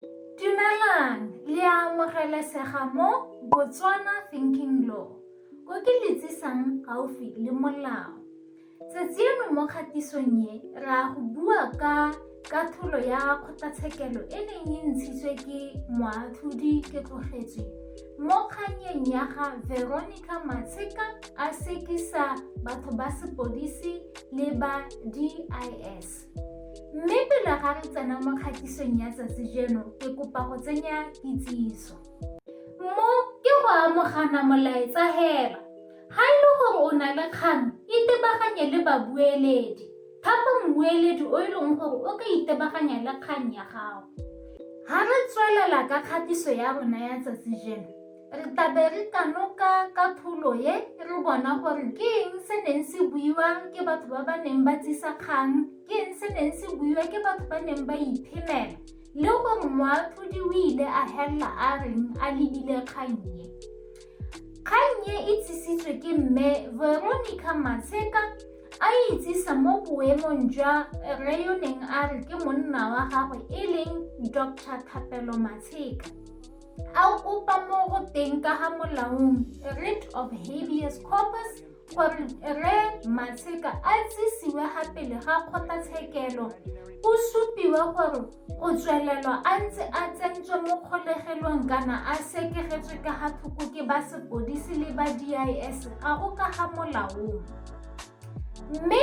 Dumelang, le a amogelesega mo Botswana Thinking Law, ko ke le tsisang gaufi le molao. Tsetsieno mo kgatisong e, ra go bua ka katholo ya kgotlatshekelo e neng e ntshitswe ke moatlhodi ke tlogetswe mo kganyeng ya ga Veronica Matshika a sekisa batho ba sepodisi le ba DIS. Mme pele ga re tsena mo kgatisong ya tsatsi jeno, ke kopa go tsenya kitsiso. Mo ke go amogana molaetsa heba. Ga e le gore o na le kgang, itebaganye le babueledi. Thapa mmueledi o e leng gore o ka itebaganya le kgang ya gago. Ga re tswelela ka kgatiso ya rona ya tsatsi jeno, Re tla be re kanoka ka thulo e re bona gore ke eng se neng se buiwa ke batho ba ba neng ba tsisa kgang, ke eng se neng se buiwa ke batho ba neng ba iphemela le gore moatlhodi o ile a helela a reng a lebile kgang e. Kgang e e tsisitswe ke mme Veronica Matsheka a itsisa mo boemong jwa re yo neng a re ke monna wa gagwe e leng Dr. Thapelo Matsheka. a kopa mo go teng ka ga molaong writ of habeas corpus gore re matsheka a tsisiwe ga pele ga kgotlatshekelo o supiwe gore go tswelelwa a ntse a tsentswe mo kgolegelong kana a sekegetswe ka ga thoko ke ba sepodisi le ba dis ga go ka ga molaong mme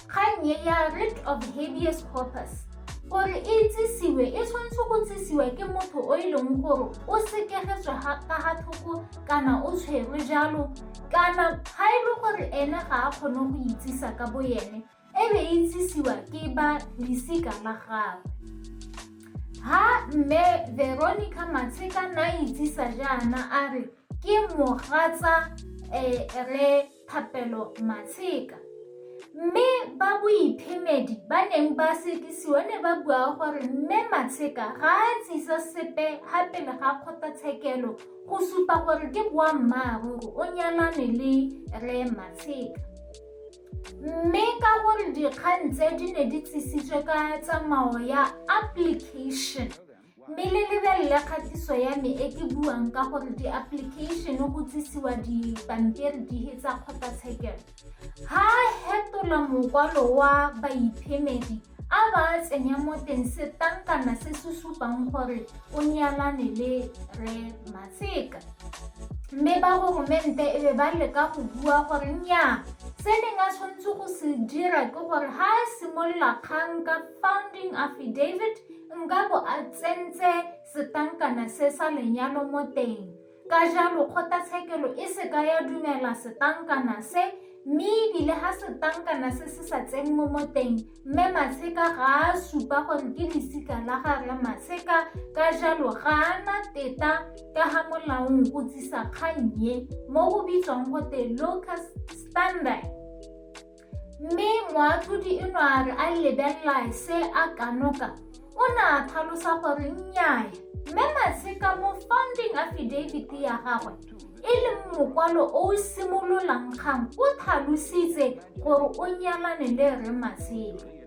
kgang e ya writ of habeas corpus gore e itsisiwe e tshwanetse go tsisiwa ke motho o e leng gore o sekegetswe ka ga thoko kana o tshwerwe jalo kana ga e le gore ene ga a kgone go itsisa ka bo ene e be e itsisiwa ke ba lesika la gagwe ha mme veronica matsheka na itsisa jaana a re ke mogatsa um re Thapelo Matsheka. Mme ba boiphemedi ba neng ba sekisiwa ne ba bua gore Mme Matsheka ga a tsisa sepe ga pele ga kgotlatshekelo go supa gore ke boammaaruri o nyalane le Re Matsheka. Mme ka gore dikgang tse di ne di tsisitswe ka tsamao ya application Mme le lebelele kgatiso ya me e ke buang ka gore di-application go tsisiwa dipampiri dihe tsa kgotlatshekelo ha hetola mokwalo wa baiphemedi a ba a tsenya mo teng setankana se se supang gore o nyalane le re matsheka mme ba goromente e be ba leka go bua gore nnyaa se neng a tshwanetse go se dira ke gore ha a simolola kgang ka founding affidavit nka bo a tsentse setankana se sa lenyalo mo teng ka jalo kgotlatshekelo e se ka ya dumela setankana se mme ebile ga setankana se se sa tsenngwe mo teng mme maseka ga a supa gore ke lesika la gare maseka ka jalo ga a na teta ka ga molaong go tsisa kgannye mo go bitswang gote locus standard Mme moatlhodi e no a re a lebelela se a kanoka o ne a tlhalosa gore nnyaya mme matsheka mo founding affidavit ya gagwe e leng mokwalo o o simololang kgang o tlhalositse gore o nyalane le rre matsheka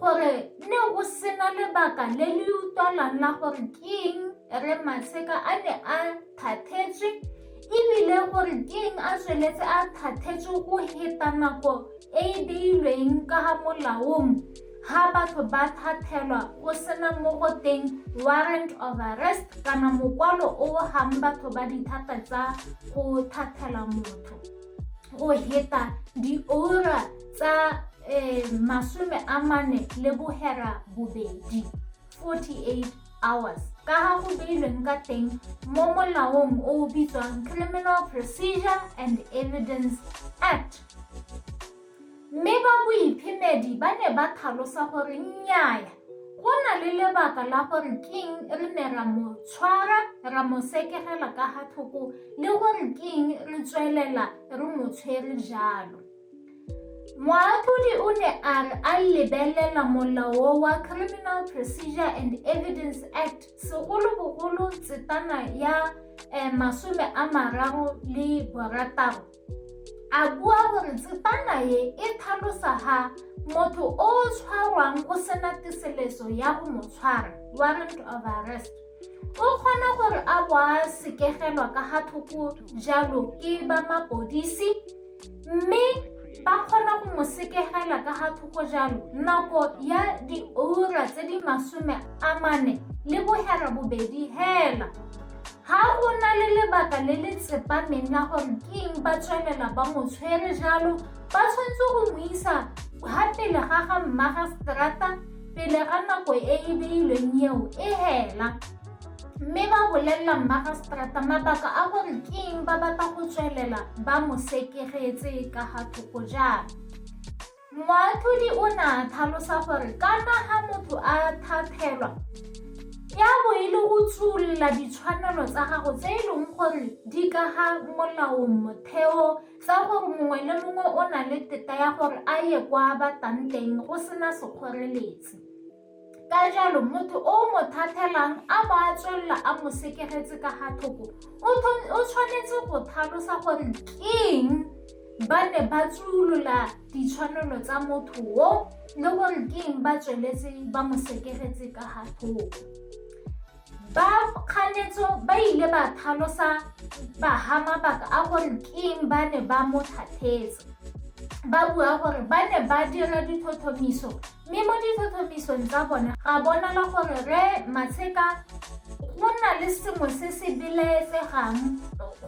gore ne go sena lebaka le le utlwalang la gore ke eng re matsheka a ne a thathetswe ebile gore ke eng a tsweletse a thathetswe go heta nako e e beilweng ka ga molaong ga batho ba thathelwa go sena mo go teng warrant of arrest kana mokwalo o gang batho ba dithata tsa go thathela motho go heta diura tsa eh, masome a mane le bohera bobedi 48 hours ka ga go beilweng ka teng mo molaong o o bitswang criminal procedure and evidence act Mme ba boiphemedi ba ne ba tlhalosa gore nnyaya, go na le lebaka la gore keng re ne ra mo tshwara ra mo sekegela ka ga tlhoko le gore keng re tswelela re mo tshwere jalo. Moatlhodi o ne a re a lebelela molao wa Criminal Procedure and Evidence Act segolobogolo tsetana ya eh, masome a mararo le borataro A bua gore tsepana ye e tlhalosa ga motho o o tshwarwang go sena teseleso ya go mo tshwara warrant of arrest o kgona gore a bo a sekegelwa ka ga thoko jalo ke ba mapodisi mme ba kgona go mo sekegela ka ga thoko jalo nako ya diura tse di masome a mane le bogera bobedi hela Ga go na le lebaka le le tsepameng la gore ke eng ba tswelela ba mo tshwere jalo, ba tshwanetse go mo isa ha pele ga ga mmagaseterata pele ga nako e e beilweng eo e hela mme ba bolelela mmagaseterata mabaka a gore ke eng ba batla go tswelela ba mo sekegetse ka ga thoko jalo. Moatlhodi o ne a tlhalosa gore ka fa ga motho a thathelwa ya bo e le go tsholola ditshwanelo tsa gago tse e leng gore di ka ga molaong motheo tsa gore mongwe le mongwe o na le teta ya gore a ye kwa batang teng go sena sekgoreletsi. ka jalo motho o mo thathelang a ba a tswelela a mo sekegetse ka ga thoko o tshwanetse go tlhalosa gore keng ba ne ba tsolola ditshwanelo tsa motho o le gore keng ba tsweletse ba mo sekegetse ka ga thoko Ba kganetso ba ile ba thalosa baha mabaka a gore keng ba ne ba mo thathetse ba bua gore ba ne ba dira dithothomiso mme mo dithothomisong tsa bone ga bonala gore re matsheka go na le sengwe se se belaetsegang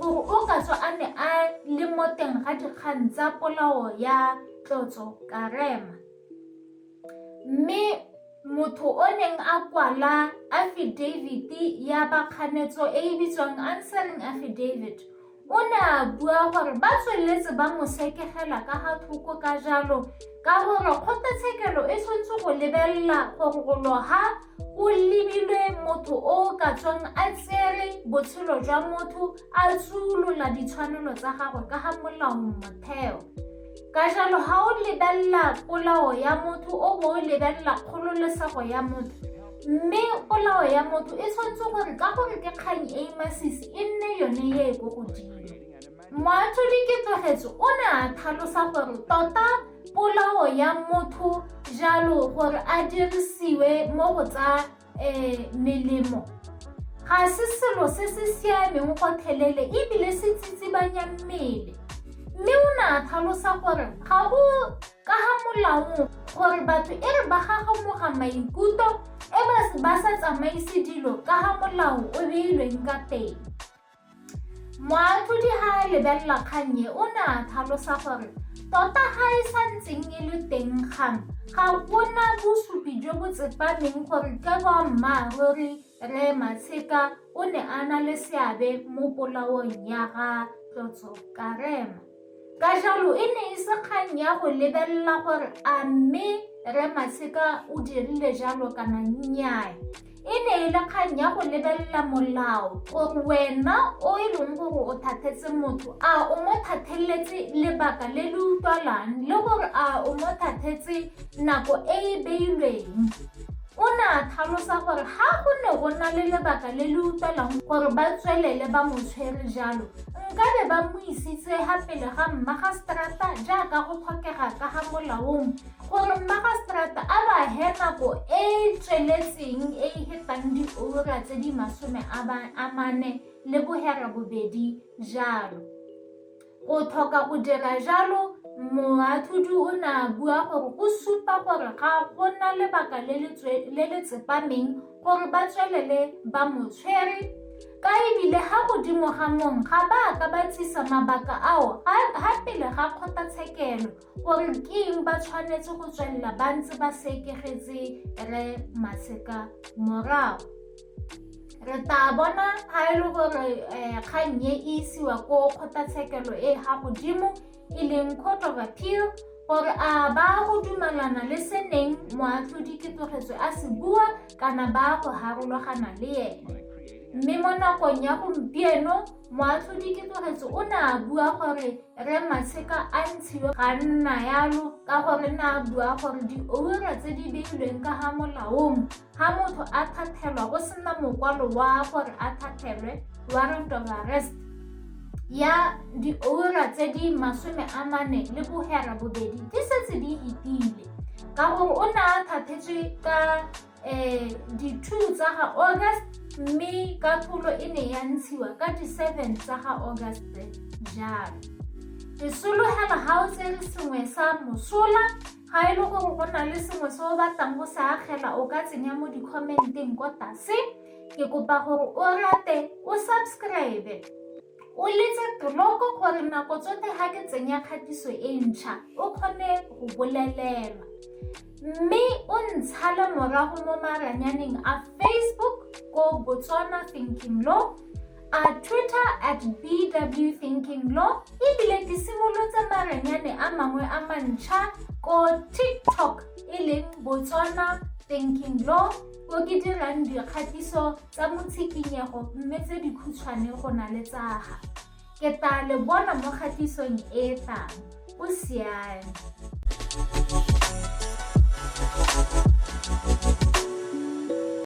gore o ka tswa a ne a le mo teng ga dikgang tsa polao ya tlotso karema Mme motho o neng a kwala affidavit ya bakganetso e e bitswang answering affidavit o ne a bua gore ba tsweletse ba mo sekegela ka ga thoko ka jalo ka gore kgotlatshekelo e tshwanetse go lebelela go gologa o lebilwe motho o o ka tswang a tsere botshelo jwa motho a tsolola ditshwanelo tsa gagwe ka ga molao motheo ka jalo ga o lebelela polao ya motho o bo o lebelela kgololesego ya motho mme polao ya motho e tshwanetse gore ka gore ke kgang e e masisi e nne yone e e ko godimo Moatlhodi Ketsogetso o ne a tlhalosa gore tota polao ya motho jalo gore a dirisiwe mo go tsa um melemo ga se selo se se siameng gotlhelele ebile se tsitsibanya mmele mme o ne a tlhalosa gore ga go ka ga molaong gore batho e re ba gagamoga maikutlo e ba sa tsamaise dilo ka ga molao o beilweng ka teng Moatlhodi ga a lebelela kgang e o ne a tlhalosa gore tota ga e sa ntseng e le teng kgang ga gona bosupi jo bo tsepameng gore ke boammaaruri re Matsheka o ne a na le seabe mo polaong ya ga Tlotso Karema. Ka jalo e ne e se kgang ya go lebelela gore a mme Rre Matsheka o dirile jalo kana nnyaa. E ne e le kgang ya go lebelela molao gore wena o e leng gore o thathetse motho a o mo thatheletse lebaka le le utlwalang le gore a o mo thathetse nako e e beilweng. O ne a tlhalosa gore ga go ne go na le lebaka le le utlwalang gore ba tswelele ba mo tshwere jalo nkabe ba mo isitse ga pele ga mmagaseterata jaaka go tlhokega ka ga molaong gore mmagaseterata a ba he nako e e tsweletseng e e hetang diura tse di masome a mane le bohera bobedi jalo go tlhoka go dira jalo moathudi o ne a bua gore go supa gore ga go na lebaka le le tsepameng gore ba tswelele ba mo tshwere Ka e bile ga godimo ga mong ga ba ka ba tsisa mabaka ao ga pele ga kgotlatshekelo gore ke eng ba tshwanetse go tswelela ba ntse ba sekegetse re maseka morago re tla bona ga e le gore um kgang e isiwa ko kgotlatshekelo e ga godimo e leng court of appeal gore a ba go dumalana le se neng moatlhodi ketogetswe a se bua kana ba go harologana le ene mme mo nakong ya gompieno moatlhodi ketogetse o ne a bua gore re matsheka a ntshiwe ga nna yalo ka gore ne a bua gore dioura tse di beilweng ka ga molaong Ga motho a thathelwa go sena mokwalo wa gore a thathelwe warrant of arrest ya diura tse di masome a mane le bogera bobedi di setse di itile ka gore o ne a thathetswe ka um di-two tsa ga august mme ka pholo e ne ya ntshiwa ka di-seven tsa ga august jalo ke sologela ga o tsere sengwe sa mosola Ga e le gore go na le sengwe se o batlang go se agela o ka tsenya mo di-commenteng ko tlase ke kopa gore o rate o subscribe o letse tloko gore nako tsote ga ke tsenya kgatiso e ntšha o kgone go bolelelwa mme o ntshale morago mo maranyaneng a facebook ko botswana thinking law a twitter at bw thinking law ebile ke simolotse marenyane a mangwe a mantšha ko tiktok e leng botswana thinking law ko ke dirang dikgatiso tsa motshikinyego mme tse dikhutshwane go na le tsaga ke tla le bona mo kgatisong e tlang o siame